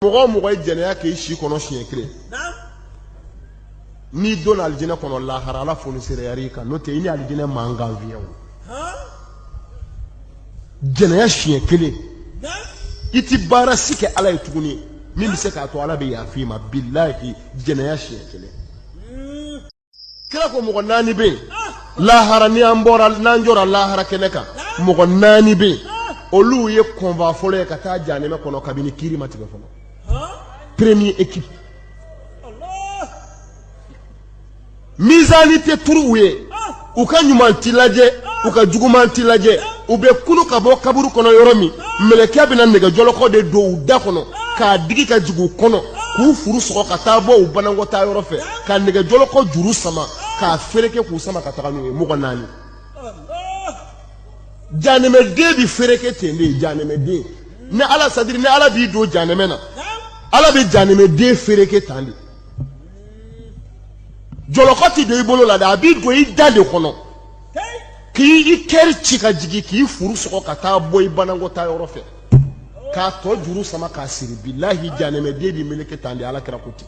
mɔgɔ o mɔgɔ ye jɛnɛya k'i si kɔnɔ siɲɛ kelen n'i donna alijinɛ kɔnɔ lahara ala fonisereyar'i kan n'o tɛ i ni alijinɛ man kan fiyewu jɛnɛya siɲɛ kelen i ti baara si kɛ ala ye tuguni min bɛ se k'a to ala bɛ yafa i ma bilahi jɛnɛya siɲɛ kelen kira ko mɔgɔ naani bɛ yen lahara ni an bɔra n'an jɔra lahara kɛnɛ kan mɔgɔ naani bɛ yen olu ye convoi fɔlɔ ye ka taa janɛmɛ kɔnɔ kabini kiri ma tigɛ fɔlɔ premier équipe mizani tɛ turu u ye u ka ɲuman ti lajɛ u ka juguman ti lajɛ u bɛ kunu ka bɔ kaburu kɔnɔ yɔrɔ min mɛlɛkɛ bɛna nɛgɛjɔlɔkɔ de don u da kɔnɔ k'a digi ka jigin u kɔnɔ k'u furu sɔgɔ ka taa bɔ u banakɔtaa yɔrɔ fɛ ka nɛgɛjɔlɔkɔ juru sama k'a fereke k'u sama ka taga n'u ye mɔgɔ naani janɛmɛden bi fereke ten de janɛmɛden ni ala c'est-à-dire ni ala b'i don janɛmɛ na ala bɛ janɛmɛden fereke tan de jɔlɔkɔ ti don i bolo la dɛ a b'i don i da de kɔnɔ k'i kɛri ci ka jigin k'i furu sɔgɔ ka taa bɔ i banakɔtaa yɔrɔ fɛ k'a tɔ juru sama k'a siri bilahi janɛmɛden bi meleke tan de ala kira ko ten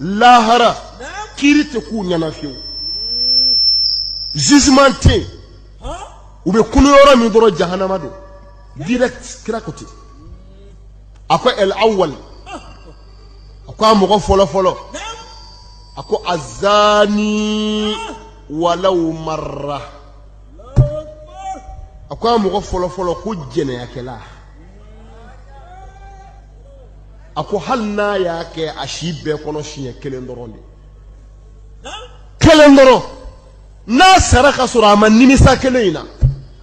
lahara kiri tɛ k'u ɲɛ na fiyewu jugement tɛ yen u bɛ kunu yɔrɔ min dɔrɔn jahanama don direct kira ko ten a ko el awal a ko a mɔgɔ fɔlɔ fɔlɔ a ko azani walaw marra a ko a mɔgɔ fɔlɔ fɔlɔ ko jɛnɛyakɛla a ko hali n'a y'a kɛ a si bɛɛ kɔnɔ siɲɛ kelen dɔrɔn de kelen dɔrɔn n'a sara ka sɔrɔ a ma nimisa kelen in na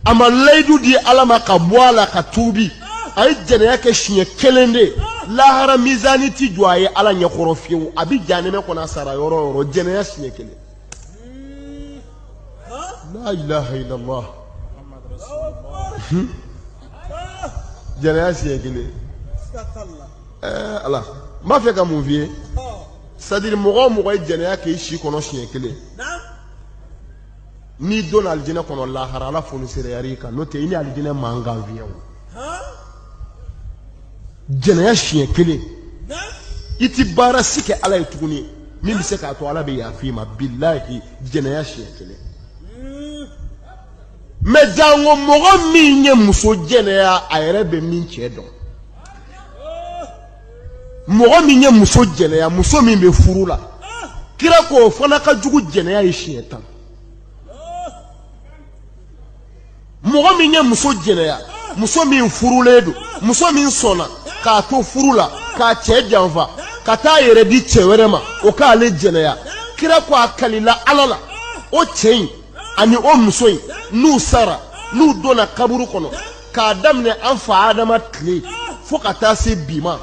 a ma layidu di ala ma ka bɔ a la ka tuubi a ye jɛnɛya kɛ siɲɛ kelen de lahara mizani ti jɔ a ye ala ɲɛkɔrɔ fiyewu a bɛ janɛmɛ kɔnɔ a sara yɔrɔ o yɔrɔ jɛnɛya siɲɛ kelen la ilaha illallah jɛnɛya siɲɛ kelen ɛɛ ala n b'a fɛ ka mun f'i ye c'est-à-dire mɔgɔ o mɔgɔ ye jɛnɛya k'i si kɔnɔ siɲɛ kelen n'i donna alijinɛ kɔnɔ lahara ala fonisereyar'i kan n'o tɛ i ni alijinɛ man kan fiyewu jɛnɛya siɲɛ kelen i ti baara si kɛ ala ye tuguni min bɛ se k'a to ala bɛ yafa i ma bilahi jɛnɛya siɲɛ kelen mɛ janko mɔgɔ min ye muso jɛnɛya a yɛrɛ bɛ min cɛ dɔn mɔgɔ min ye muso jɛnɛya muso min bɛ furu la kira ko o fana ka jugu jɛnɛya ye siɲɛ tan mɔgɔ min ye muso jɛnɛya muso min furulen don muso min sɔnna k'a to furu la k'a cɛ janfa ka taa yɛrɛ di cɛ wɛrɛ ma o k'ale jɛnɛya kira ko a kalila ala la o cɛ in ani o muso in n'u sara n'u donna kaburu kɔnɔ k'a daminɛ an fa adama tile fo ka taa se bi ma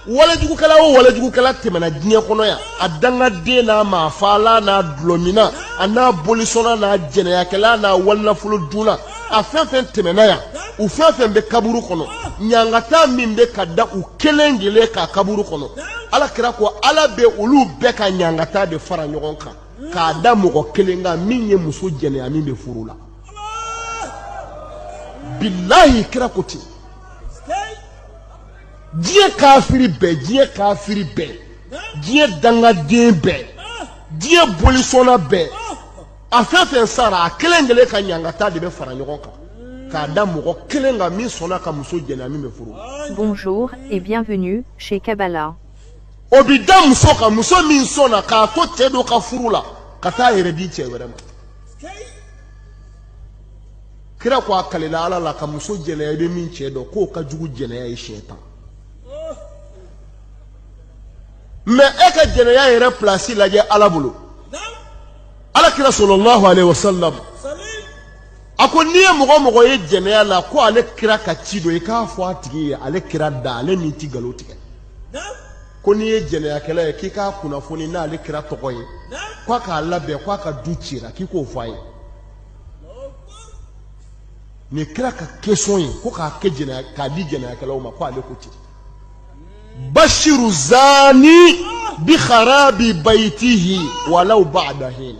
walejugukɛla o walejugukɛla tɛmɛna diɲɛ kɔnɔ yan a dangaden n'a maafaala n'a dulɔmina a n'a bolisɔnna n'a jɛnɛyakɛla n'a walinafolo dunna a fɛn fɛn tɛmɛna yan u fɛn fɛn bɛ kaburu kɔnɔ ɲangata min bɛ ka da u kelen kelen kan kaburu kɔnɔ ala kira ko ala bɛ olu bɛɛ ka ɲangata de fara ɲɔgɔn kan k'a da mɔgɔ kelen kan min ye muso jɛnɛya min bɛ furu la bilahi kira ko ten diɲɛ kafiri bɛɛ diɲɛ kafiri bɛɛ diɲɛ dangaden bɛɛ diɲɛ bolisɔnna bɛɛ a fɛn fɛn sara a kelen kelen ka ɲangata de bɛ fara ɲɔgɔn kan k'a da mɔgɔ kelen kan min sɔnna ka muso jɛnɛya min bɛ furu la. Bonjour et bienvenue chez Kabala. o bi da muso kan muso min sɔnna k'a to cɛ dɔ ka furu la ka taa a yɛrɛ di cɛ wɛrɛ ma kira ko a kalila ala la ka muso jɛnɛya i bɛ min cɛ dɔn k'o ka jugu jɛnɛya ye siɲɛ tan mɛ e ka jɛnɛya yɛrɛ pilasi lajɛ ala bolo ala kira sallallahu alayhi wa sallam a ko n'i ye mɔgɔ o mɔgɔ ye jɛnɛya la ko ale kira ka ci don i k'a fɔ a tigi ye ale kira da ale min ti nkalon tigɛ ko n'i ye jɛnɛyakɛla ye k'i k'a kunnafoni n'ale kira tɔgɔ ye k'a k'a labɛn k'a ka du cira k'i k'o fɔ a ye nin kira ka kesɔn ye ko k'a kɛ jɛnɛya k'a di jɛnɛyakɛlaw ma ko ale ko ten bashiru zani bi kharabi baytihi walaw ba'da hin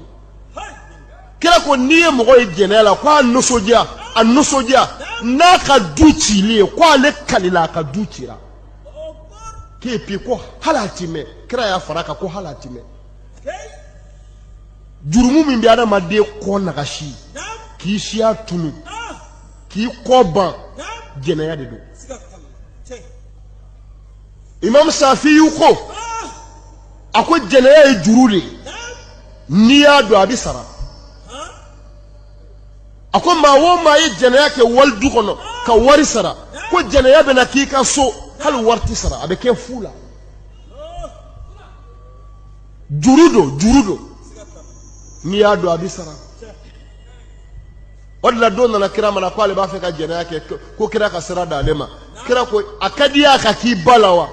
kira ko n'i ye mɔgɔ ye jɛnɛya la ko a nisɔndiya n'a ka du cili ye k'ale kalila a ka du cira k'e pi ko hali a ti mɛn kira y'a fara kan ko hali a ti mɛn jurumu min bɛ adamaden kɔ nagasi k'i siya tunu k'i kɔ ban jɛnɛya de don imam safiyu ko a ko jɛnɛya ye juru de ye n'i y'a don a bɛ sara a ko maa o maa ye jɛnɛya kɛ wali du kɔnɔ ka wari sara ko jɛnɛya bɛna k'i ka so hali wari ti sara a bɛ kɛ fu la juru don juru don n'i y'a don a bɛ sara o de la dɔ nana kira ma na k'ale b'a fɛ ka jɛnɛya kɛ ko kira ka sira d'ale ma kira ko a ka d'i y'a ka k'i ba la wa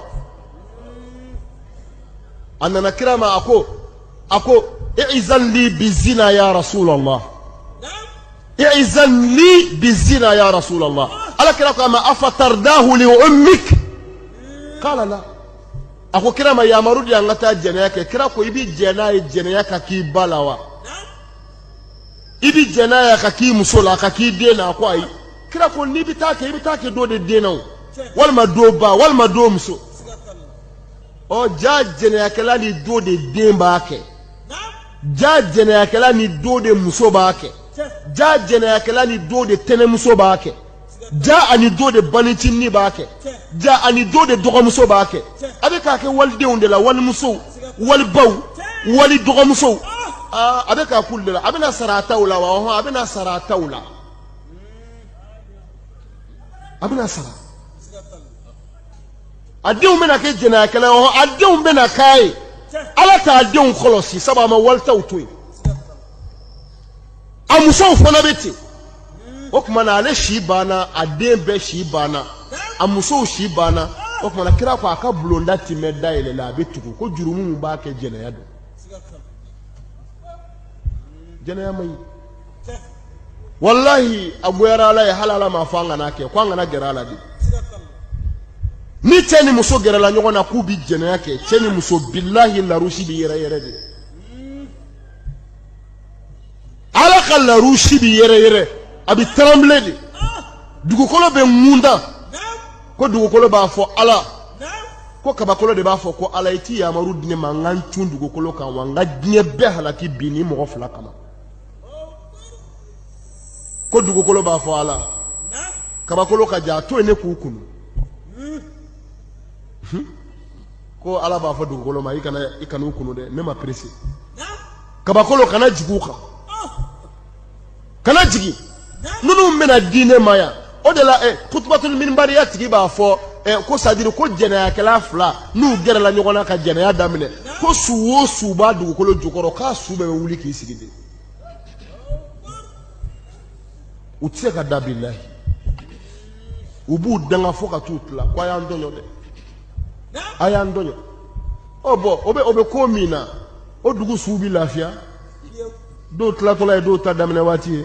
a nana kira ma a ko a ko i'izan li bi zina ya rasulallah i'izan li bi zina ya rasulallah ala kira ko a ma afatardahu li ummik qala la a ko kira ma yamaru di an ka taa jɛnɛya kɛ kira ko i bi jɛn n'a ye jɛnɛya ka k'i ba la wa i bi jɛn n'a ye a ka k'i muso la a ka k'i den na a ko ayi kira ko n'i bɛ taa kɛ i bɛ taa kɛ dɔ de den na o walima dɔ ba walima dɔ muso ɔ jaa jɛnɛyakɛla ni do de den b'a kɛ jaa jɛnɛyakɛla ni do de muso b'a kɛ jaa jɛnɛyakɛla ni do de tɛnɛmuso b'a kɛ jaa ani do de banicinin b'a kɛ jaa ani do de dɔgɔmuso b'a kɛ a bɛ k'a kɛ walidenw de la walimusow walibaw wali dɔgɔmusow ah, a bɛ k'a k'olu de la a bɛna sara a taw la wa ɔhɔn a bɛna sara a taw la a bɛna sara a denw bɛna kɛ jɛnɛyakɛla ye a denw bɛna k'a ye ala t'a denw kɔlɔsi sabu a ma walitaw to yen a musow fana bɛ ten o tuma na ale si banna a den bɛɛ si banna a musow si banna o tuma na kira ko a ka bulonda ti mɛɛn dayɛlɛ la a bɛ tugu ko jurumu min b'a kɛ jɛnɛya don jɛnɛya man ɲi walahi a goyara ala ye hali ala m'a fɔ an kana kɛ ko an kana gɛrɛ a la dɛ ni cɛ ni muso gɛrɛla ɲɔgɔn na k'u bi jɛnɛya kɛ cɛ ni muso bilahi larusi bi yɛrɛyɛrɛ de ala ka larusi bi yɛrɛyɛrɛ a bi tremble de dugukolo bɛ ŋundan ko dugukolo b'a fɔ ala ko kabakolo de b'a fɔ ko ala i ti yamaru di ne ma n ka n cun dugukolo kan wa n ka diɲɛ bɛɛ halaki bi nin mɔgɔ fila kama ko dugukolo b'a fɔ ala kabakolo ka ja to yen ne k'u kunu ko ala b'a fɔ dugukolo ma i kana i kana u kunu dɛ ne ma pressé kabakolo kana jigin u kan kana jigin ninnu bɛna di ne ma yan o de la eh, kutubatuli minibariya tigi b'a fɔ eh, ko sadiri ko jɛnɛyakɛla fila n'u gɛrɛla ɲɔgɔn na ka jɛnɛya daminɛ ko su o su b'a dugukolo jukɔrɔ k'a su bɛɛ bɛ wuli k'i sigi de u tɛ se ka da bilahi u b'u danga fo ka t'u tila ko a y'an tɔɲɔ dɛ a y'an tɔɲɔ ɔ bɔn o bɛ o bɛ ko min na o dugu suw bɛ lafiya dɔw tilatɔla ye dɔw ta daminɛ waati ye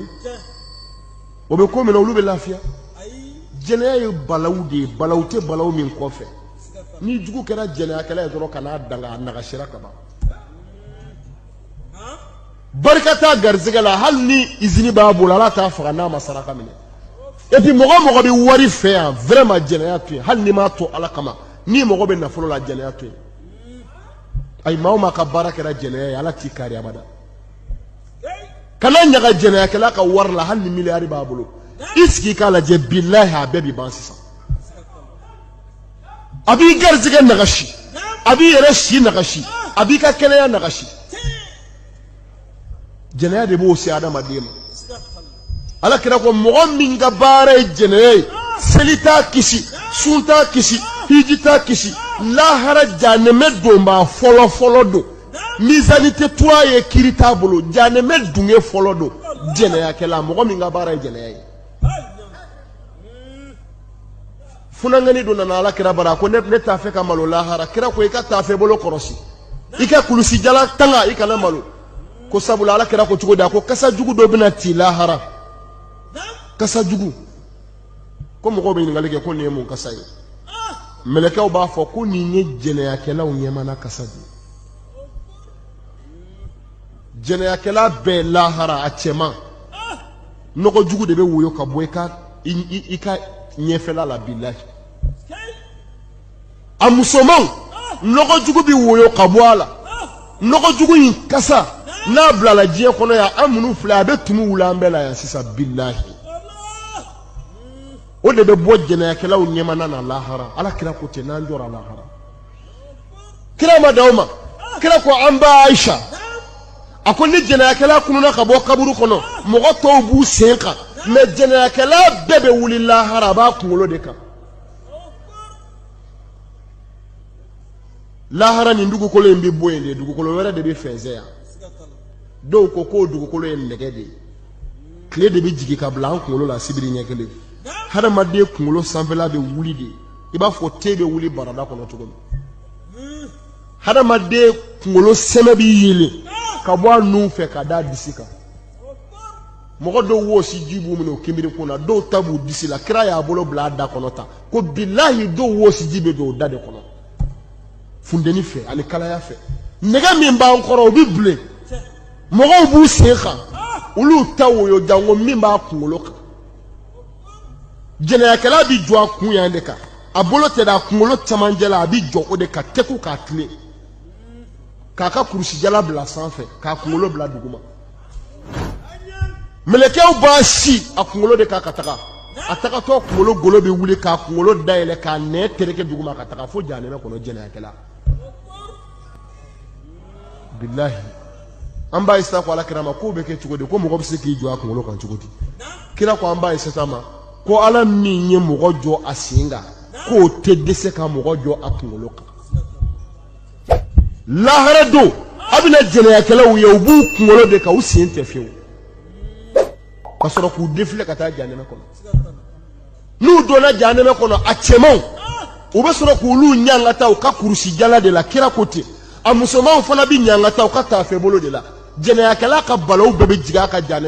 o bɛ ko min na olu bɛ lafiya jɛnɛya ye balawu de ye balawu tɛ balawu min kɔfɛ n'i jugu kɛra jɛnɛyakɛla ye dɔrɔn kan'a danga a nagasira ka ban barika t'a garisɛgɛ la hali ni izini b'a bolo ala t'a faga n'a ma saraka minɛ et puis mɔgɔ o mɔgɔ bɛ wari fɛ yan vraiment jɛnɛya to yen hali n'i m'a to ala kama n'i mago bɛ nafolo la jɛnɛya to yen ayi maa o maa ka baara kɛra jɛnɛya ye ala t'i kari abada kana ɲaga jɛnɛyakɛla ka wari la hali ni miliyari b'a bolo i sigi k'a lajɛ bilahi a bɛɛ bi ban sisan a b'i garisɛgɛ nagasi a b'i yɛrɛ si nagasi a b'i ka kɛnɛya nagasi jɛnɛya de b'o se adamaden ma ala kira ko mɔgɔ min ka baara ye jɛnɛya ye seli t'a kisi sun t'a kisi hiji t'a kisi lahara janɛmɛ donbaa fɔlɔ fɔlɔ don mizani tɛ turu a ye kiri t'a bolo janɛmɛ dunge fɔlɔ don jɛnɛyakɛla mɔgɔ min ka baara ye jɛnɛya ye funankɛnin dɔ nana ala kira bara a ko ne ne t'a fɛ ka malo lahara kira ko i ka taafe bolo kɔrɔsi i ka kulusi jala tanga i kana malo ko sabula ala kira ko cogo di a ko kasa jugu dɔ bɛna ti lahara kasa jugu ko mɔgɔw bɛ ɲininkali kɛ ko nin ye mun kasa ye mɛlɛkɛw b'a fɔ ko nin ye jɛnɛyakɛlaw ɲɛmana kasa de ye jɛnɛyakɛla bɛɛ lahara a cɛman nɔgɔ jugu de bɛ woyo ka bɔ i ka i ka ɲɛfɛla la bilahi a musomanw nɔgɔ jugu bɛ woyo ka bɔ a la nɔgɔ jugu in kasa n'a bilala diɲɛ kɔnɔ yan an minnu filɛ a bɛ tumu wuli an bɛɛ la yan sisan bilahi o de bɛ bɔ jɛnɛyakɛlaw ɲɛmana na lahara ala kira ko ten n'an jɔra lahara kira ma dan o ma kira ko an ba aisha a ko ni jɛnɛyakɛla kununa ka bɔ kaburu kɔnɔ mɔgɔ tɔw b'u sen kan mais jɛnɛyakɛla bɛɛ bɛ wuli lahara a b'a kunkolo de kan lahara nin dugukolo in bɛ bɔ yen de dugukolo wɛrɛ de bɛ fɛnsɛn yan dɔw ko k'o dugukolo ye nɛgɛ de ye tile de bɛ jigin ka bila an kunkolo la sibiri ɲɛ kelen hadamaden kunkolo sanfɛla bɛ wuli de i b'a fɔ te bɛ wuli barada kɔnɔ cogo min hadamaden kunkolo sɛmɛ bi yeelen ka bɔ a nun fɛ ka d'a disi kan mɔgɔ dɔw wɔsi ji b'u minɛ o kinbiri kun na dɔw ta b'u disi la kira y'a bolo bila a da kɔnɔ tan ko bilahi dɔw wɔsi ji bɛ don o da de kɔnɔ funteni fɛ ani kalaya fɛ nɛgɛ min b'an kɔrɔ o bɛ bilen mɔgɔw b'u sen kan olu ta woyo janko min b'a kunkolo kan jɛnɛyakɛla bi jɔ a kun yan de kan a bolo tɛ da a kunkolo cɛmancɛ la a bi jɔ o de kan tɛku k'a tilen k'a ka kurusijala bila sanfɛ k'a kunkolo bila duguma mɛlɛkɛw b'a si a kunkolo de kan ka taga a tagatɔ kunkolo golo bɛ wuli k'a kunkolo dayɛlɛ k'a nɛ tereke duguma ka taga fo jahanɛmɛ kɔnɔ jɛnɛyakɛla bilahi an ba ayisa ko ala kira ma k'o bɛ kɛ cogo di ko mɔgɔ bɛ se k'i jɔ a kunkolo kan cogo di kira ko an ba ayisa ma ko ala min ye mɔgɔ jɔ a sen kan k'o tɛ dɛsɛ ka mɔgɔ jɔ a kunkolo kan lahara don a bɛna jɛnɛyakɛlaw ye u b'u kunkolo de kan u sen tɛ fiyewu ka sɔrɔ k'u defile ka taa janɛmɛ kɔnɔ n'u donna jahanɛmɛ kɔnɔ a cɛmanw u bɛ sɔrɔ k'olu ɲangata u ka kurusijala de la kira ko ten a musomanw fana bɛ ɲangata u ka taafebolo de la jɛnɛyakɛla ka balaw bɛɛ bɛ jigin a kan jahanɛmɛ